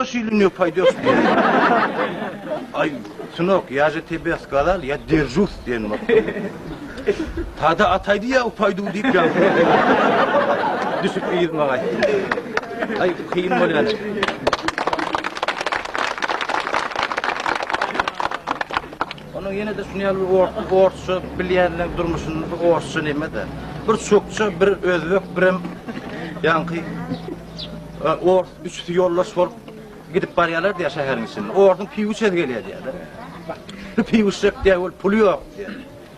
Şeýle ne paýdasy bar? Aý, synok, ýa je tebe skazal, ýa derjus diýen bor. Tada ataýdy ýa upaýdu diýip ýazyp berdi. Düşüp ýyzma gaýtdy. Aý, kyn bolýar. Onuň ýene de şuny ýaly bir orsça bilýänler durmuşyny bir orsça neme-de. Bir çokça, bir özbek, birem ýaňky ors Üçüsi ýoldaş bolup gidip barýarlar diýýär şäheriň içinde. Orduň piwuçesi gelýär diýýärler. Bu piwuşjak diýýär, ol puly ýok diýýär.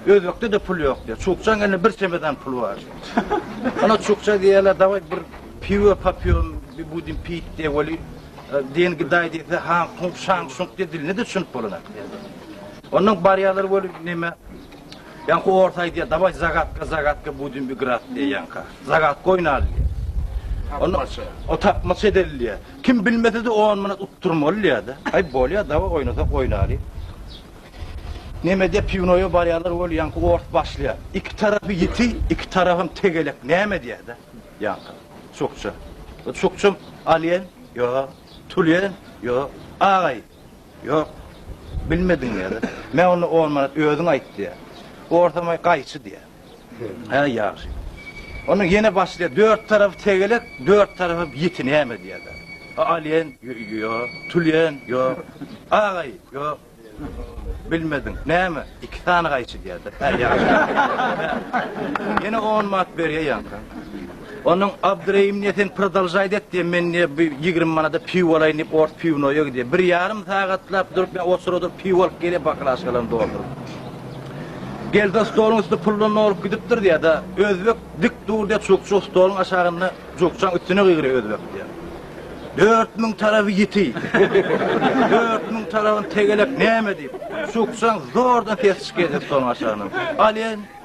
Özbekde-de pul ýok diýýär. Çukçaň elinde bir çemedan pul bar. Ana çukça diýýärler, dawaý bir piwo popýom, bir budin pit diýýär, weli e, diýen gidaý diýse, han kung şang şung diýýär, diline-de düşünip bolanok diýýär. Ondan barýarlar weli neme, Ýaňky ors aýdýar, Daway zagatka, zagatka budem igrat diýýär ýaňka. Zagatk oýnaly diýýär. Onda o tapmaça edeli diýýär. Kim bilmese-de on manat utdurmaly diýýär-de. Aý bolýar, daway oýnasak oýnaly. Neme diýip pivnoýa barýarlar weli ýaňky ors başlaýar. Iki tarapy ýiti, iki tarapam tegelek näme diýýär-de ýaňky. Çukça. Çukçam alýan, ýok. Tulýan, ýok. Agaý, Ýok, bilmediň diýýär. Men onda on manat özüň aýt diýýär. Orsamaý gaýçy diýýär. Hä, ýagşy. Onda ýene başlaýar, dört tarapy tegelek, dört tarapy ýiti näme diýýär. Alýen, ýok, tülýen, ýok, agaý, ýok. Bilmediň, näme, iki sany gaýçy diýýär. Hä, ýagşy. Ýene on manat berýär ýaňka. Onuň Abdyrehim ne sen prodolžaýt et diýen men ne bir ýigrimi manada piwo alaýyn diýip ors piwnoýa gidýän. Bir ýarym sagatlap durup men oçura durup piwo alyp gelýän baklaşkalaryny dolduryp. Geldi stoluň üsti puldan dolup gidipdir diýýär da özbek dik dur diýýär çukçuk stoluň aşagynda çukçaň üstüne gygyrýar özbek diýýär. Dört müň tarapy ýiti. Dört müň tarapyny tegelek näme diýip. Çukçaň zordan sesi çykýar stoluň aşagyndan. Alýan.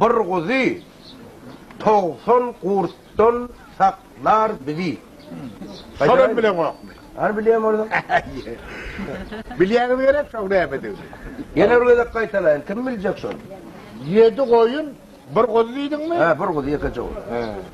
Bir guzy togsan gurtdan saklar bizi. Şonam bileňokmy? Hany bilýän bolsaň. Bilýäňiz gerek şoň nämedigini. Ýene bir gezek gaýtalaýyn, kim biljek şony? Ýedi goýun, bir guzy diýdiňmi? Hä, bir guzy, ýekeje guzy.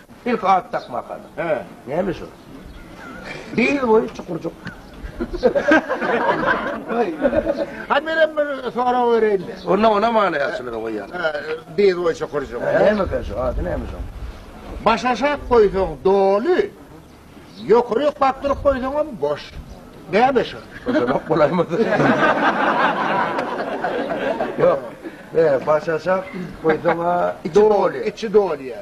Ilki at dakmak galy. Hä, näme şo? Bil boýy çukurjyk. Goý. Hany menem bir sorag bereýin-de. Onda onam alaýaçylygy goýýan. Hä, bil boýy çukurjyk. Näme eken şo? Ady näme şoň? Baş aşak goýsaň doly, ýokaryk bakdyryp goýsaňam boş. Näme şo? Şodanok bolaýmasyn? Ýok. Baş aşak goýsaň-a, içi doly. Içi doly ýa.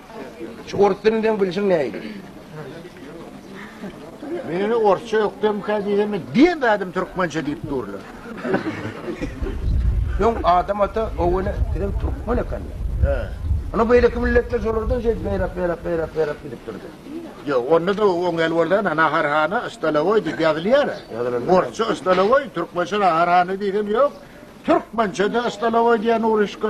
Şu orus dilini seň bilşiň nähili? Meni orsça ökdemkä diýsemi, diýemedem türkmençe diýip durlar. Öň Adam ata Owene sizem türkmen ekeni. He. Ana beýleki milletler şolardan şeýdip beýräk beýräk beýräk beýräk gidip durdy. Ýok, onda da oňel boldan Naharhana Stalowoý diýip ýazylýar. Ýazylandan Orsça Stalowoý, türkmençe Naharhana diýsem ýok. Türkmençe de Stalowoý diýen uruşka.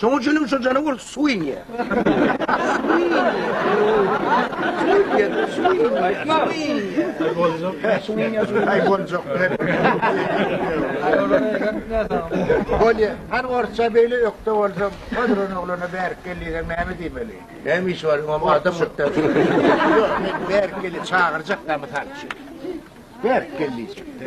Şoň üçin hem şo janawar suw inýär. Bolýa, hany orsça beýle ökde bolsaň, Kodron ogluna bärik gel diýseň näme diýmeli? Näme işi bar, oňam adam muktar. Ýok, men bärik gel diýip çagyrjak-da mysal üçin. Bärik gel diýjek-de.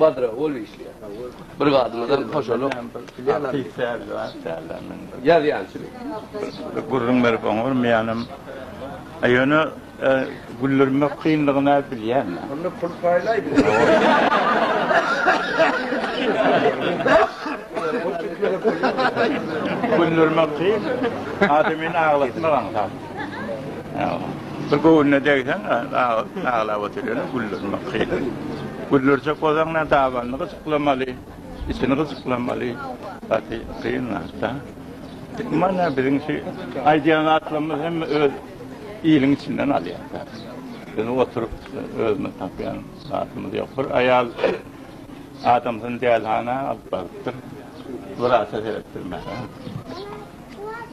Badra ol işleýär. Bir gadymyzam hoşalyk. Ýazýançy. Gürrüň berip oňa bir meýanam. Ýöne güldirmek kynlygyny bilýän. Onda pul paýlaý bize. Güldirmek kyn. Adamyny aglatmak aňsat. Bir göwnüne degseň, aglap oturýar, güllerini bakýar. Güllerjek bolsaň, dabanyny gyjyklamaly, içini gyjyklamaly. Gaty kyn zat-da. Mana biziň şu aýdýan zatlarymyz hem öz iliň içinden alýar-da. Biz oturyp özümiz tapýan zatymyz ýok. Bir aýal adamsyny dälihana alyp barypdyr. Wraça seretdirmäge.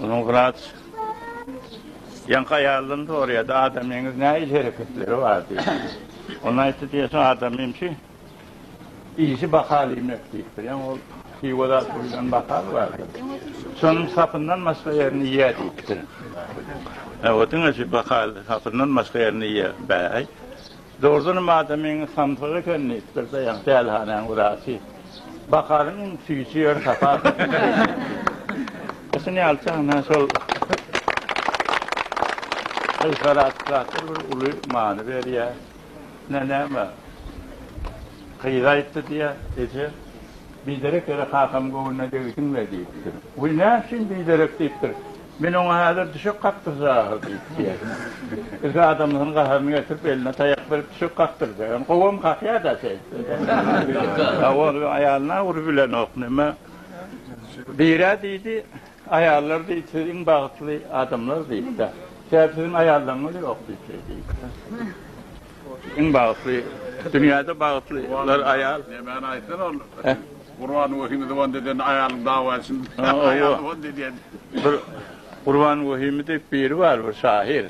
Onuň wraç Ýaňky aýaldan soraýardy, Adamyňyz nähili hereketleri bar diýip. Ol aýtdy diýýärsiň, Adamym şu işi bahal iýmek diýipdir. Ýaňy ol hiwa zat buýlan bahal bardyr. Şonuň sapyndan başga ýerini iýýär diýipdir. Hawa, diňe şu bahal sapyndan başga ýerini iýýär. Bäý, Dogrudanam adamyň samsyk eken, diýip, bir daýan pälhanäň wraçy. Bakaryň, iň süýji ýeri sapasydyr. Şuny alsaň, nä şol gyzlar atraktor bir uly many berýär. Nä näme, gyz aýtdy diýýä, Eje, biderek ýere kakam göwnüne degdiň-le diýipdir. Wiý, näme üçin biderek diýipdir. Men oňa häzir düşek kakdyrjak ahyr diýip diýýär. Ilki adamlaryň gaharyny getirip, eline taýak berip düşek kakdyrjak. Ýöne gowam kakýar-da şeýdip. A ol aýalyna urup bilenok. Näme? Bir-ä diýdi, Aýallar diýdi, siz iň bagtly adamlar diýdi-de. Sebäbi siziň aýallaryňyz ýok diýip şeý diýdi. Iň bagtly, dünýäde bagtlylar aýal. Nämäni aýtsyn ol? Gurban Wehimi zyban edende aýalyň dawa etsin. Aýal zyban edýän. Bir Gurban Wehimi diýip biri bar bir şahyr.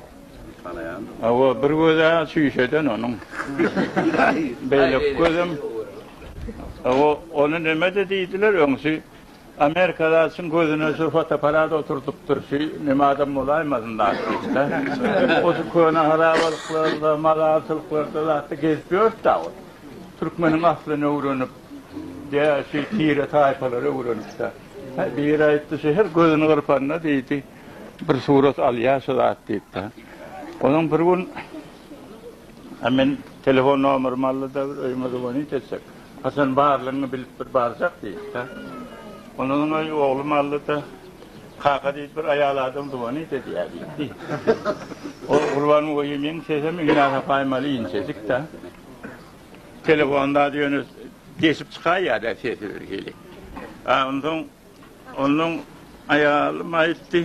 Tanaýan. Hawa, bir gözi çüýşeden onuň. Beýleki gözem. Hawa, ony näme-de diýdiler, öňsi Amerikadaçyň gözüne şu fotoapparat oturdypdyr, şu näme adam bolaýmasyn zat diýdiler. O şu köne harabalyklarda, mazarçylyklarda zatda gezip ýörüpd-ä ol. Türkmeniň aslyny öwrenip. Däşi tire-taýpalara öwrenipdi. Biri aýtdy, şu her gözüni gyrpanda diýdi, bir surat alýar şu zat diýipdi. Onuň bir gün men telefon nomerymy aldy-da, bir öýüme zwonit etsek, haçan barlygyňy bilip bir barjak diýipdi. Ondan soň öý oglum aldy-da, Kaka diýdi, bir aýal adam zwonit edýär diýipdi. Ol Gurban oýy meň sesem iňňä sapaýmaly inçejik-de. Telefonda ýöne deşip çykaýýa-da sesi birhili. A onsoň onuň aýaly maýypdy.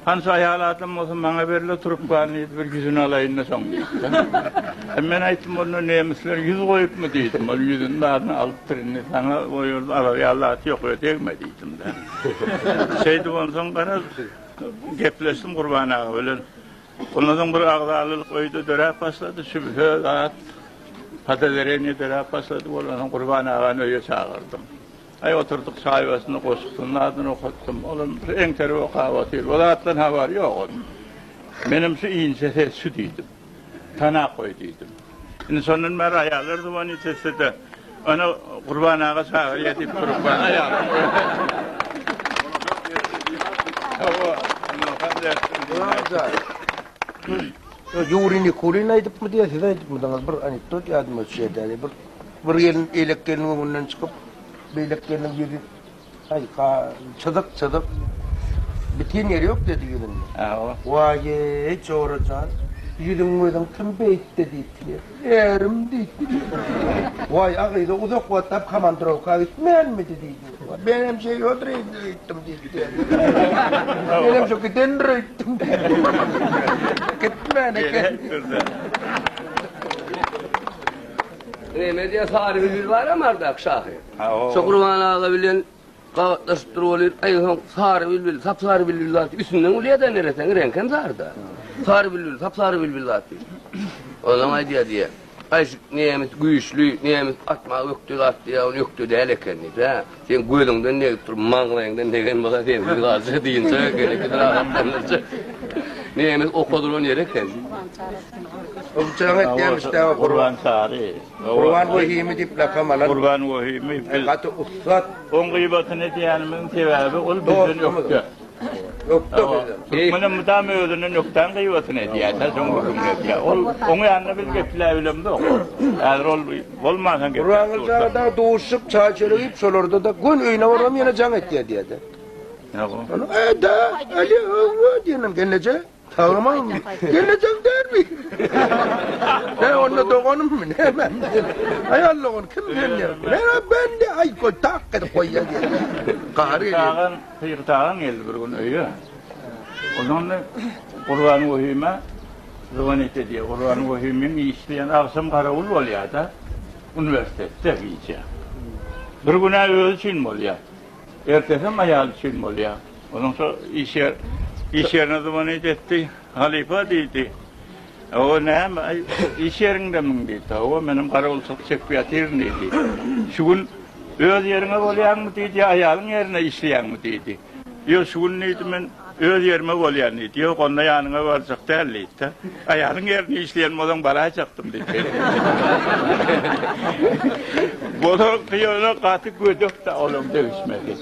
Hança aýal adam bolsa maňa ber-le trubkany bir ýüzüni alaýyn-da soň diýdi. Men aýtdym, onda nemisler ýüz goýupmy diýdim. Ol ýüzüni baryny alypdyr, indi saňa o ýerde alar ýaly zat ýok, öe degme diýdim-de. Şeýdip onsoň garaz, gepleşdim Gurban aga bilen. Ondansoň bir agzalylyk öýde döräp başlady. Sübhe zat podawereniýe döräp başlady. Bolansoň Gurban agany öýe çagyrdym. Aý oturdyk çaý başynda goşgusynyň zadyny okatdym. Ol hem bir eňterip okap otyr. Bu zatdan habary ýok onuň. Menem şu inçe ses şu diýdim. Tanap goý diýdim. Indi şondan bäri aýallar dywany içeside Ana Gurban aga çagyrýar diýip durup bar aýalam. Hawa, Ýuri Nikulin aýdypmy diýýär, siz aýdypmydyňyz bir anekdot ýadyma düşýär däli bir bir gelin elek geliniň öňünden çykyp, beýlek geliniň ýüzi Aýka, çyzyk, çyzyk. Bitin ýeri ýok dedi ýüzünde. Hawa. Waýy, Jora jan, ýüzüň-gözüň kim beýtdi diýipdi. Ärim diýipdi diýdi. Waý, a gyz-a uzak wagtlap komandrowka gitmänmidi diýdi. Men hem şeý ýodur indi öýtdüm diýipdi. Men hem şo gidendir öýtdüm diýipdi. Gitmän eken. Remediýa Sary Hüzür baram ardak şahyr. Şokurman aga bilen gabatlaşyp dur bolup, aý soň sary bilbil, sap-sary bilbil zat üstünden gülýär-de nereseň, reňki hem sary-da. Sary bilbil, sap-sary bilbil zat diýip. Onsoň aýdýar diýýär, Gaýşyk nemes güýçli, nemes atmaga ökde zat diýýär, ol ökde däl eken diýip-ä. Seň gözüňden degip dur, maňlaýyňdan degen bolsa sensiz galsa dynjak eken, ikisi rahatlanyrjak. Nemes oka duran ýeri eken. Gurbançary. Gurbançary. Gurban Wehimi diýip lakam alan. Gurban Wehimi biz. Gaty ussat. Oň gyýbatyny edýänimiziň sebäbi ol bizden ökde. Ökde bizden. Türkmene mydama özünden ökdäň gyýbatyny edýär, sen şoň öküňi edýär. Ol oň ýanynda biz gepläp bilemzok. Häzir ol bolmansoň gepläp. Gurban Gylyjaga dagy duşup, çaý çörek iýip, şolarda-da gün öýüne baram ýene jaň etýär diýerdi. Näme? Eda, Aliýewa diýenem gelneje. Salamam mi? Gelejeň däl mi? He onda doganym mi? Näme? Aýal dogan kim sen diýen. Mena ben de aý goý tak edip goýýa diýen. Gary gelýär. Pygyt agam geldi bir gün öýe. Ondan Gurban Wehime zwonit edýär. Gurban Wehimiň işi diýen agşam garawul bolýar-da uniwersitetde gijä. Bir gün-ä özi üçin bolýar. Ertesem aýaly üçin bolýar. Onuň şo iş ýer, iş ýerine zywanyp etdi. Halypa diýdi. Hawa, näme, iş ýeriňdemiň diýdi. Hawa, menem garawulçylyk çekip ýatyryn diýdi. Şu gün öz ýeriňe bolýaňmy diýdi, ýa aýalyň ýerine işleýäňmi diýdi. Ýok, şu gün diýdi, men Öz ýerime bolýan diýdi. Ýok, onda ýanyňa barjak däl diýdi-de. Aýalyň ýerinde işleýän bolsaň baraýjakdym diýdi. Bolan gyýana gaty gödek-dä olam degişmesi.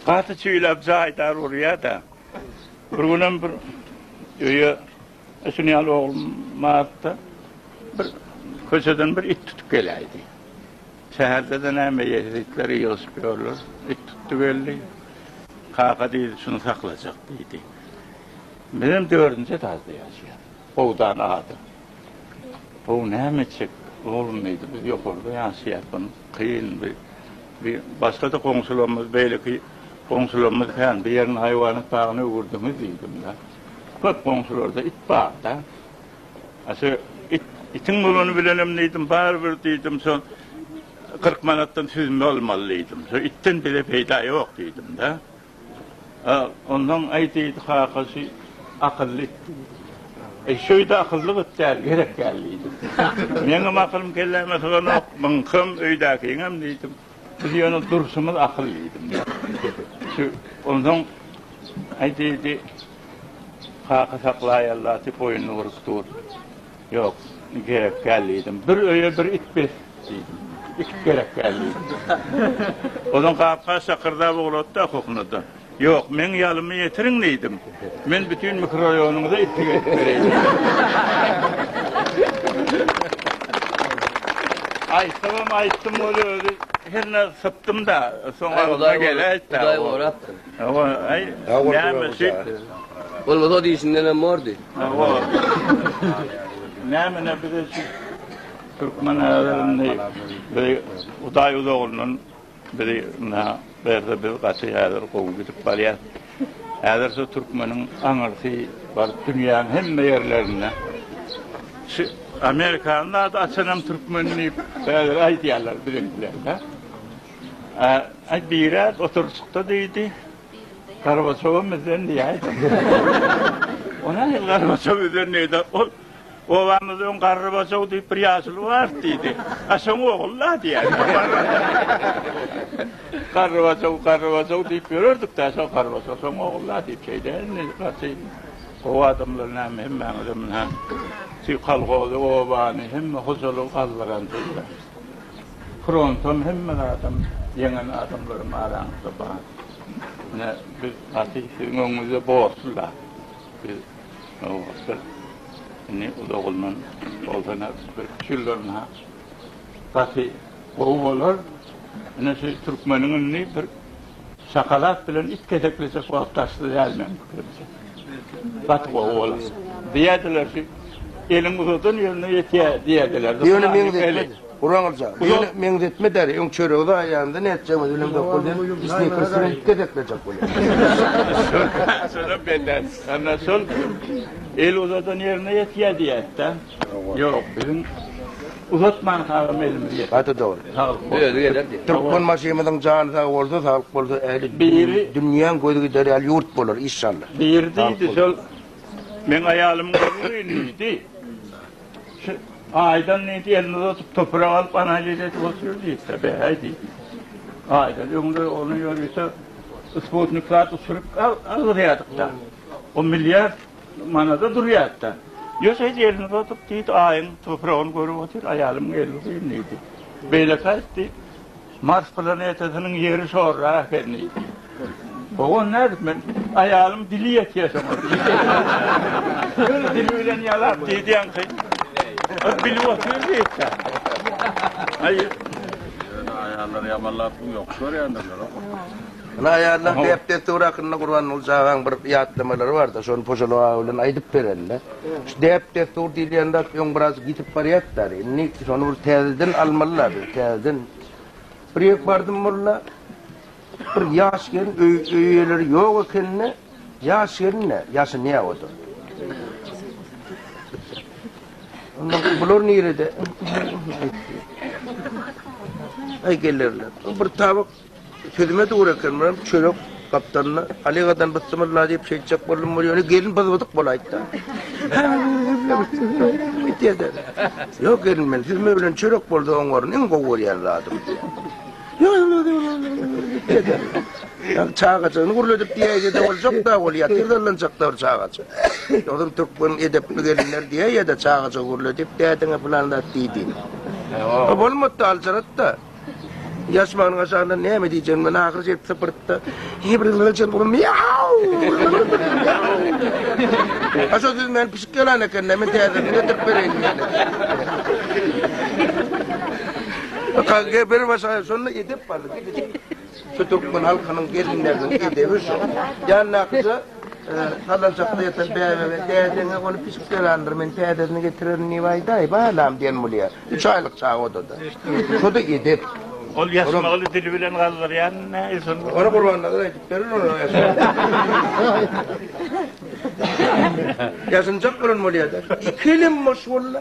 Gaty çüýläp jaýdar urýar-da. Bir günem bir öýe Ösün ýaly oglum bardy-da, bir köçeden bir it tutup geläýdi. Şäherde-de näme ýeris, itler ýygyşyp ýörler. It tutdy geldi. Kaka diýdi, şuny saklajak diýdi. Bizem dördünji etajda ýaşaýarys. Howdan adam. How näme etjek oglum diýdi, biz ýokarda ýaşaýarys, bunu kyn bir bir başga-da goňşularymyz, beýleki goňşularymyz kän, bu ýerini haýwanat bagyna öwürdiňiz diýdim-de. Köp goňşularda it barda. A şu it, itiň bolany bilenem diýdim, barybir diýdim, şu 40 manatdan süzme almaly diýdim. Şu itden bize peýda ýok diýdim-de. Ondan aý diýdi, kaka şu akylly it. E şöýde akylly it däl, gerek däl diýdim. Meňem akylym kelläme syganok, muňkam öýdäkiňem diýdim. Biz ýöne durşumyz akyl diýdim. Şu onsoň aýdydy Kaka saklaýalla diýip boýnuny burup dur. Ýok, gerek däl diýdim. Bir öýe bir it bes diýdim. Iki gerek däl diýdim. Onsoň gap-gaç şakyrdap ugrady-da, okokunada. Ýok, meň ýalymy ýetiriň diýdim. Men bütin mikroraýonyňyza itlik edip bereýin. Aýtsam, aýtdym, ol özi herne sypdym-da, soň agzyma geläýtdi. Hudaý gorapdyr. Hawa, aý, näme şeýtdi. Bolmasa ol işindenem bordy. Hawa. Näme-ne bize şu türkmen adamyny, Hudaý uzaglyndan Bizi ynha berse biz gaty häzir gowy gidip barýas. Häzirçe türkmeniň aňyrsy baryp dünýäň hemme ýerlerinde. Şu Amerikany zady açanam türkmen diýip bäleri aýdýarlar biziňkilerde. A, aý birek oturjykda diýdi. Gorbaçowa mizden diýäýdim. Ol nähili Gorbaçowa mizden diýdi. Ol Obamyzda öň garry bosaw diýip bir ýaşuly bar diýdi. A şoň ogul-la diýýär. Garry bosaw, garry bosaw diýip ýörerdik-dä, şo garry bosaw, şoň ogul-la diýip şeýdä indi gaty gowy adamlar näme hemmäňizem munä şu kolhozy, obany, hemme hojalygy galdyransyzlar. Frontam hemme zadam ýeňen adamlarym araňyzda bar. Munä biz gaty siziň öňüňizde borçly-la. Biz Nowbatda indi uzagyndan bolsa-da bir üç ýyldan ha gaty gowy bolar. Ine şu türkmeniň indi bir şokolad bilen it keseklejek wagty daşda däl meniň pikirimçe. Gaty gowy bolar. Diýerdiler şu eliň uzadan ýerine ýetýär diýerdiler. Ýöne meňzetmedi. Guraňylja, bu ýöne meňzetme däl, öň çöregi zaýaýanda nätjegimiz bilen dokul diýen snikrsden ilki gezek berjek bolýar. Şonam benden çykandan şol el uzadan ýerine ýetýär diýýäs-dä. Ýok, biziň uzatman sagam elimizi ýeter. Gaty dogry. Saglyk bolsun. Özi geler diýip. Türkmenbaşymyzyň jany sag bolsa, saglyk bolsa ähli dünýäň gözi gider ýaly ýurt bolar, işşalla. Biri diýdi, şol meň aýalymyň özi diýdi. Şu Aýdan indi elini uzadyp, toprak alyp, analiz edip otyr diýipdir, bäý diýip. Aýdan öňde ony ýörite sputnik zat uçuryp algyrýardyk-da. O milliard manada durýardy-da. Ýöne şeýdip elini uzadyp, diýdi, Aýyň topragyny görüp otyr, aýalymyň elini uzaýyn diýdi. Beýleki aýtdy, Mars planetasynyň ýeri şorra ekeni. Ogon nädip men aýalym dili ýetýä şoňa. Öz dili bilen ýalap diýýänki. Ol bilip otyr diýipdir. Aýy. Aýallar ýamanlap ýok görýändirler. Ine aýallar däp-dessur hakynda Gurbanguly çagaň bir ýatlamalary bardy, şony Pojaly aga bilen aýdyp berende, şu däp-dessur diýilýän zat öň biraz ýitip barýardy-da, indi şony bir täzeden almaly-la biz, täzeden. Bir ýer bardym molla, bir ýaş gelin, öý eýeleri ýok ekeni, ýaş gelin-de, ýaşynýa o-da. Onda bular nirede? Aý gelerler. Bir tabak Sözüme dogry eken, men çörek gapdalynda Alegadan bysymylla diýip çekjek boldum, bu ýöne gelin byzbydyk bolaýtda. Ýok gelin men siz bilen çörek boldy oň orun iň gowy görýän zadym. Ýa çagajyny gurladyp diýäýdi de boljak da ol ýa tirdalanjaklar çagajy. Ýogyn türkmen edepli gelinler diýäýdi çagajy gurladyp dädiňe bilen zat diýdi. Bolmady aljarat da. Ýaşman gaşanda näme diýjegim men ahyr jet sypyrtda. He bir gylçan bolup miau. Aşa siz men pişik ýalan eken näme täze getirip bereýin diýdi. Kaka bir başa şonda edip bardy. Şu türkmen halkynyň gelinleriniň edebi şu. Ýandakyja salanjakda ýatan bäbege, Dädeňe ony pişik berandyr, men täzesini getirerin diýip aýdaý, balam, diýen bolýar. Üç aýlyk çaga odada. Şu-da edep. Ol ýasmygy dili bilen gazdyrýan näil şony? Ony Gurbannazar aýdyp berer onuň ýasmygyny. Ýasynjak bolan bolýar-da. Iki elem boş walla.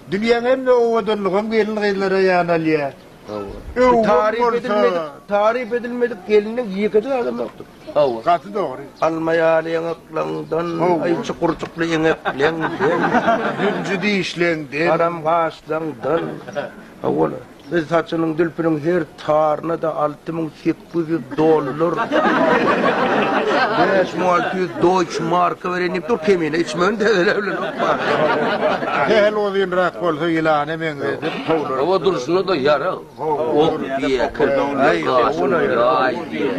Dünýäň hemme owadanlygam gelin-gyzlara ýanalýar. Hawa. Şu taryp edilmedik, taryp edilmedik gelniň ýekeje adam ýokdur. Hawa. Gaty dogry. Alma ýaly ýaňaklaňdan, aý çukurjykly eňekleňden, Zülji dişleňden. Haram gaşlaňdan. Hawa-la. Biz saçynyň dülpüniň her taryna-da alty müň sekiz ýüz dollar, bäş müň alty ýüz doýç marka bereýin diýip dur, kemine içmegini täzelän bilenok barybir. Sähel uzynrak bolsa ýylana meňzedip, towlanyp. Hawa, durşuna-da ýarag. Ok diýýä, kirpikde gaş bar, ýaý diýýä.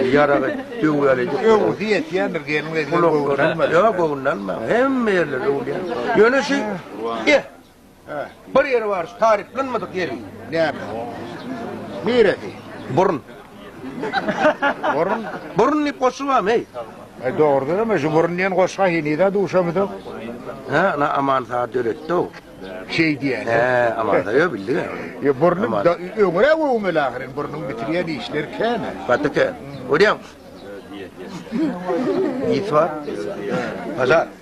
Ýaragy döwýäli. Öwgüsi ýetýändir, gelin-gyzlar göwün almadyk. Ýok, göwün almaň. Hemme ýerler öwülýär. Ýöne şu, eh, Bir ýeri bar şu taryplanmadyk ýeri. Näme? Niresi? Burun. Burun. Burun diýip goşgy barmy? Eý. E dogrudan hem şu burun diýen goşga henize duşamydyk. Ha, na aman saat döretdi o. Şey diýýär. He, aman da ýa bildi. Ýa burnuň öňre öwmeli ahyryn burnuň bitirýän işler kän. Gaty kän. Görýäň. Ýit bar. Pazar.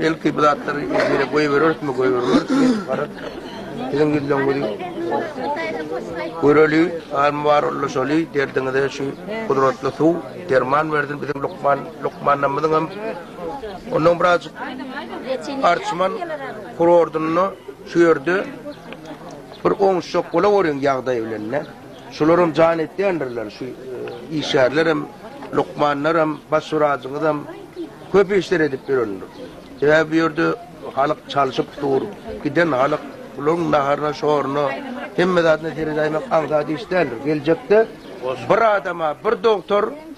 Belki bu zatlary ýüzüne goýbererismi, goýbermerismi, garaz. Siziň ýüzleňizi göreli, al-mubaraklaşaly, derdiňize şu gudratly suw, derman bersin biziň lukman, lukmanlarymyzyň hem ondan birazjyk arçman kurortunda şu ýerde bir oňuşjak bola görüň ýagdaý bilen-de. Şularam jan etýändirler, şu işgärlerem, lukmanlaram, baş wražyňyzam köp işler edip ýörendir. Sebäbi bu ýerde halyk çalşyp dur, giden halyk bularyň naharyna, şoruny, hemme zadyna seredäýmek aňsat iş däldir. Geljekde bir adama bir dogtor,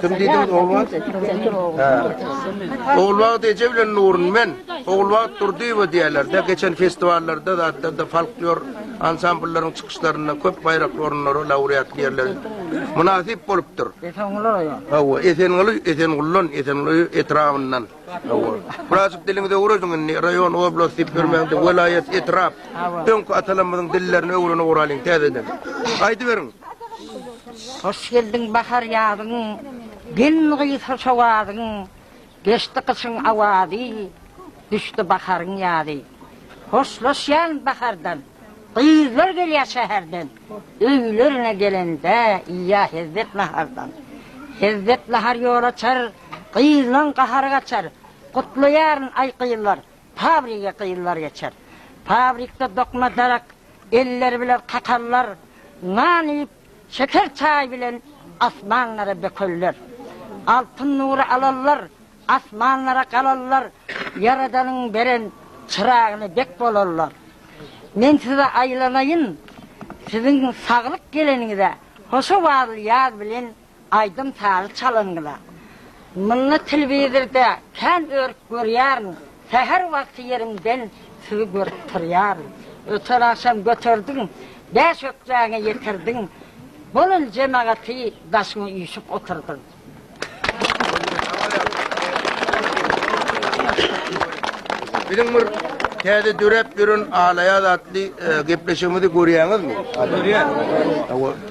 Kim diýdiňiz Ogulbagt? Hä. Ogulbagt eje bilen Nurun men. Ogulbagt Durdyýewa diýerler-de, geçen festiwallarda, zatlarda, folklor ansambllaryň çykyşlarynda köp baýrakly orunlary, laureatly ýerleri mynasyp bolupdyr. Esenguly raýony. Hawa, Esenguly, Esenguldan, Esenguly etrabyndan. Birazjyk diliňizi öwrediň indi, raýon, oblast diýip ýörmäň de, welaýat, etrap. Öňki atalarymyzyň dillerini öwrenip oralyň täzeden. Aýdyberiň. Hoş geldiň bahar ýazyň, Gelin gyz hoş owazyň, Geçdi gyşyň awazy, Düşdi baharyň ýazy. Hoşlaşýan bahardan, Gyzlar gelýär şäherden, Öýlerine gelende, Iýýär hezzet nahardan. Hezzet nahar ýol açar, Gyzlaň gahary gaçar, Gutlaýaryn, aý gyzlar, Fabrige gyzlar geçer. Fabrikde dokma darak Elleri bilen kakallar, Nan iýip, şeker çaý bilen Asmanlara bökelder. Altyn nury alallar, Asmanlara galallar, Ýaradanyň beren çyragyny Bek bolallar. Men size aýlanaýyn, Siziň saglyk geleniňize Hoşowazly ýaz bilen Aýdym sazy çalanyňyza Munny telewizorda kän örüp görýärin säher wagty ýerimden sizi görüp turýaryn öten agşam göterdiň bäş ökjäňe ýetirdiň bolun jemagaty daşyňa üýşüp oturdyň. Biziň bir täze döräp ýören Alaýaz atly gepleşigimizi görýäňizmi? Görýän.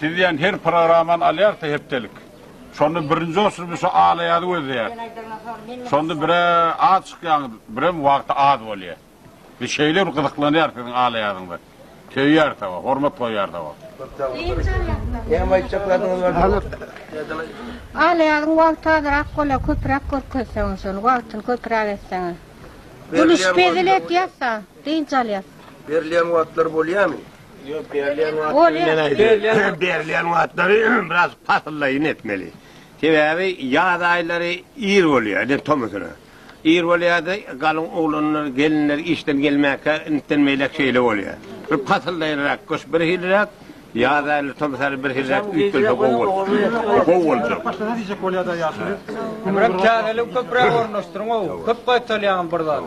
Siz diýen her programany alýarys-da hepdelik. Şonda birinji oçurby şu Alaýazy gözleýäris. Şonda bir-ä az çykýaňyz, birem wagty az bolýar. Biz şeýle bir gyzyklanýarys siziň Alaýazyňyza. Söýýäris-ä, hormat goýýarys-a. Näme aýtjak zadyňyz bardy? Alaýazyň wagty azrak bolýar, köpräk görkezseňiz şony, wagtyny köpräk etseňiz. Gülüşip hezil edýäris-ä, dynç alýarys. Berilýän wagtlary bolýarmy? Berilýän wagtlary biraz pasyllaýyn etmeli. Sebäbi ýaz aýlary ir bolýar, ine tomusuna. Ir bolýar-da, galyň oglanlar, gelinler işden gelmäkä intden beýläk şeýle bolýar. Bir pasyllaýynrak gyş birhiliräk, ýaz aýlary, tomus aýlary birhiliräk üýtgelse gowy bolar. Gowy boljak. Başga diýjek bolýar-da ýaşuly. Köpräk käbeligi köpräk ornaşdyryň-ow. Köp gaýtalýaňam bir zady.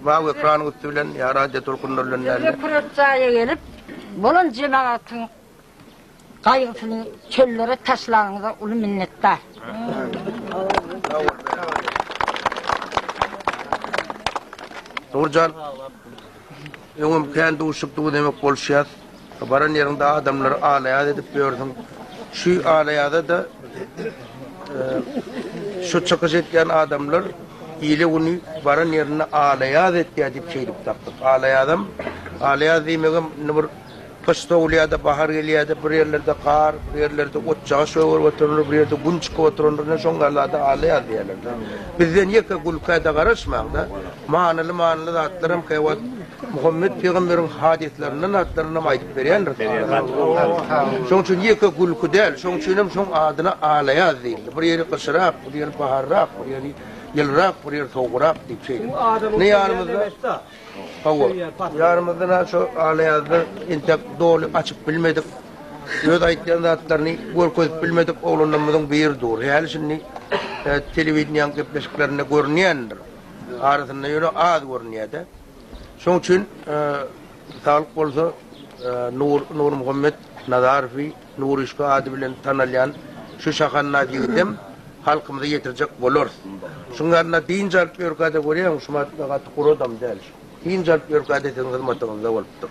Mawy ekranyň üsti bilen ýa radio tolkunlary bilen dälde. Şeýle kürek jaýa gelip, bolan jemagatyň gaýgysyny çöllere taşlanyňyza uly minnetdar. Nurjan, öňem kän duşup dur demek boluşýas. Baran ýeriňde adamlary ala-ýaz edip ýörsüň. Şu ala-ýaza-da şu çykyş etýän adamlar ile güni baran ýerinde ala-ýaz etýär diýip şeýdip tapdyk. Ala-ýazam, ala-ýaz diýmegem indi bir gyş sowulýar-da, bahar gelýär-de, bir ýerlerde gar, bir ýerlerde otjaga şöwürip oturandyr, bir ýerde gün çykyp oturandyr, ine şoň ýaly zada ala-ýaz diýerler-de. Bizden ýeke gülkä-de garaşmaň-da, manyly-manyly zatlaram käwagt Muhammet pygamberiň hadyslarynyň atlaryny hem aýdyp berýändir. Şoň üçin ýeke gülki däl, şoň üçin hem şoň adyna Alaýaz diýildi. Bir ýeri gyşyrak, bir ýeri baharrak, bir ýeri ýylyrak, bir ýeri sowugrak diýip şeýle. Ine ýanymyzda Hawa. Ýanymyzda näme şu Alaýazda entek doly açyp bilmedik, öz aýtýan zatlaryny görkezip bilmedik oglanlarymyzyň biri dur. Häli şindi telewideniýäň gepleşiklerinde görünýändir. arasynda ýöne az görünýär-de. Şoň üçin Saglyk bolsa Nur Nurmuhammet Nazarowy Nuryşka ady bilen tanalýan şu şahannaz ýigidem halkymyza ýetirjek bolarys. Şuň ýanyna dynç alyp ýörkä-de görýäňmi, Şumat gaty gury adam däl. Dynç alyp ýörkä-de siziň hyzmatyňyzda bolupdyr.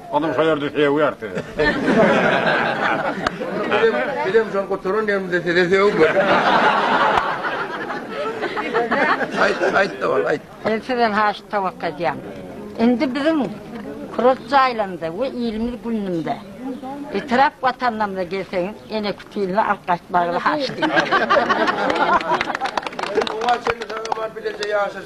Olam şo ýerde sögýär sizi. Bizem şol guturan ýerimizde sizi sögmeli. Aýt, aýt dowam, aýt. Men sizden haýyş towakga edýän. Indi biziň kurort jaýlarymyza we ilimiz günümde etrap watanlarymyza gelseňiz ene kütüline alyp gaýtmagyňyzy haýyş edýän. Oňa çenli saňa bar bileje ýaşaş.